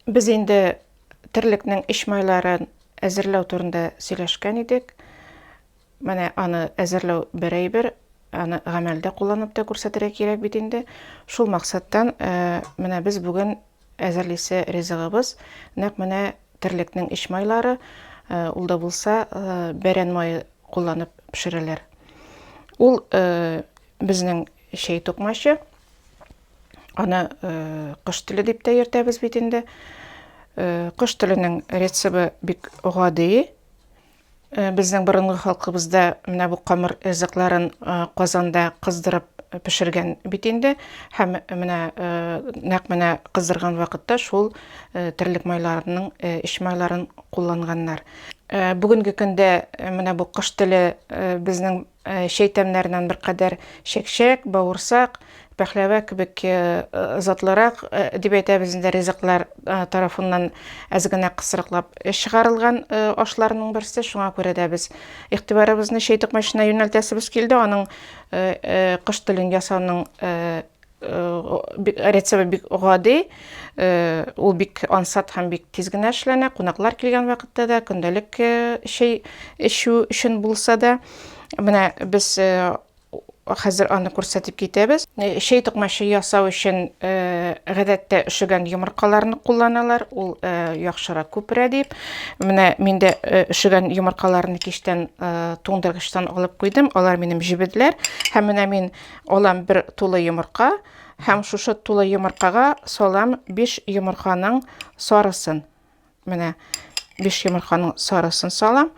Без инде терлекнең эч майларын әзерләү турында сөйләшкән идек. Менә аны әзерләү бер әйбер, аны гамәлдә кулланып та күрсәтергә кирәк бит инде. Шул максаттан э, менә без бүген әзерлисе ризыгыбыз нәкъ менә терлекнең эч майлары, э, ул да булса э, бәрән мае кулланып пешерәләр. Ул Безнең чәй тукмачы. Аны э, кыш теле дип тә йөртәбез бит инде. Э, кыш теленең рецебы бик гади. Э, безнең борынгы халкыбызда менә бу камыр ризыкларын э, казанда кыздырып пешергән бит инде һәм менә э, нәкъ менә кыздырган вакытта шул терлек майларының эч майларын кулланганнар бүгенге көндә менә бу кыш теле безнең Чәй тәмнәреннән беркадәр чәкчәк, бавырсак, пәхләвә кебек затлырак, дип әйтәбез инде, ризыклар тарафыннан әз генә кысрыклап чыгарылган ашларның берсе. Шуңа күрә дә без игътибарыбызны чәй токмачына юнәлтәсебез килде, аның кош телен ясауның Рецебы бик гади, ул бик ансат һәм бик тиз генә эшләнә. Кунаклар килгән вакытта да, көндәлек чәй эчү өчен булса да. Менә без хәзер аны күрсәтеп китәбез. Чәй токмачы ясау өчен гадәттә өшегән йомыркаларны кулланалар, ул яхшырак күперә дип. Менә мин дә өшегән йомыркаларны кичтән туңдыргычтан алып куйдым, алар минем җебедләр. Һәм менә мин Алам бер тулы йомырка һәм шушы тулы йомыркага салам 5 йомырканың сарысын. Менә 5 йомырканың сарысын салам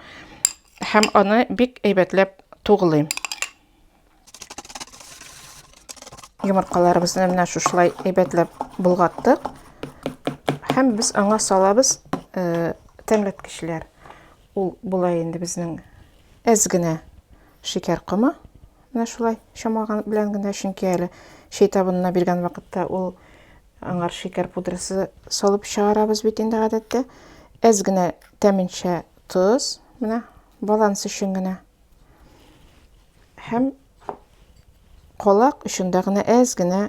һәм аны бик әйбәтләп тугылыйм. Йомыркаларыбызны менә шушылай әйбәтләп болгаттык. Һәм без аңа салабыз э, тәмләткечләр. Ул була инде безнең әз генә шикәр комы. Менә шулай чамаган белән генә, чөнки әле чәй табынына биргән вакытта ул аңар шикәр пудрасы салып чыгарабыз бит инде гадәттә. Әз генә тәменчә тоз, менә баланс өчен генә. Һәм колак өчен дә генә әз генә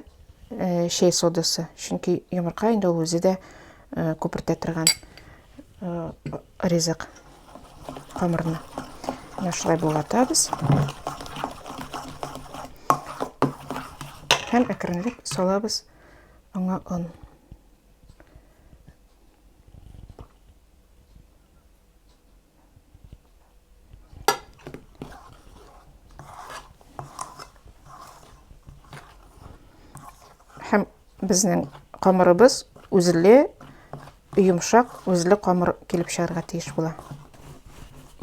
чәй содасы, чөнки йомырка инде ул үзе дә күпертә торган э, ризык камырны менә шулай болгатабыз һәм әкренләп салабыз аңа он һәм безнең камырыбыз үзле йомшак үзле камыр килеп чыгарга тиеш була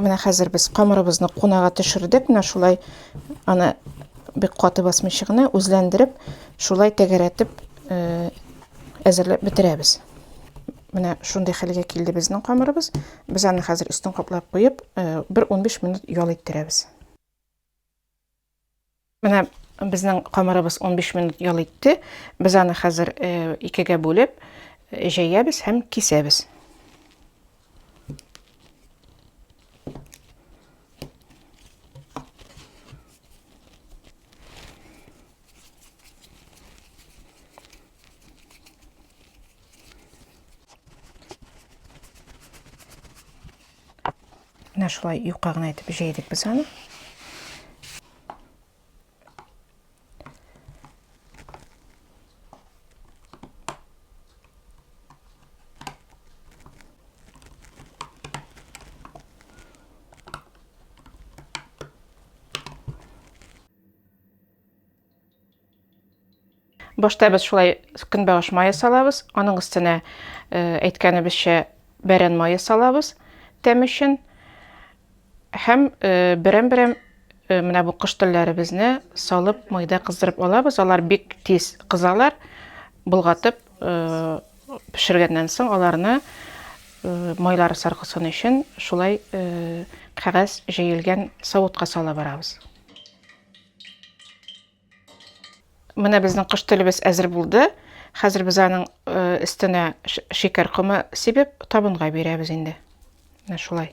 менә хәзер без камырыбызны кунага төшердек менә шулай аны бик каты басмыйча гына үзләндереп шулай тәгәрәтеп э, әзерләп бетерәбез Менә шундый хәлгә килде безнең камырыбыз. Без аны хәзер өстен каплап куеп, э, бер 15 минут ял иттерәбез. Менә безнең камырыбыз 15 минут ял итте. Без аны хәзер э, икегә бүлеп, э, җәябез һәм кисәбез. Менә шулай юка гына итеп җәйдек без аны. Башта без шулай көнбагыш мае салабыз, аның өстенә э, әйткәнебезчә бәрән мае салабыз тәм өчен. Һәм э, берәм-берәм э, менә бу кыш телләребезне салып майда кыздырып алабыз. Алар бик тиз кызалар. Болгатып пешергәннән соң аларны майлары саркысын өчен шулай кәгазь җәелгән савытка сала барабыз. Менә безнең кыш төлебез әзер булды. Хәзер без аның өстенә шикәр комы сибеп, табынга бирәбез инде. Менә шулай.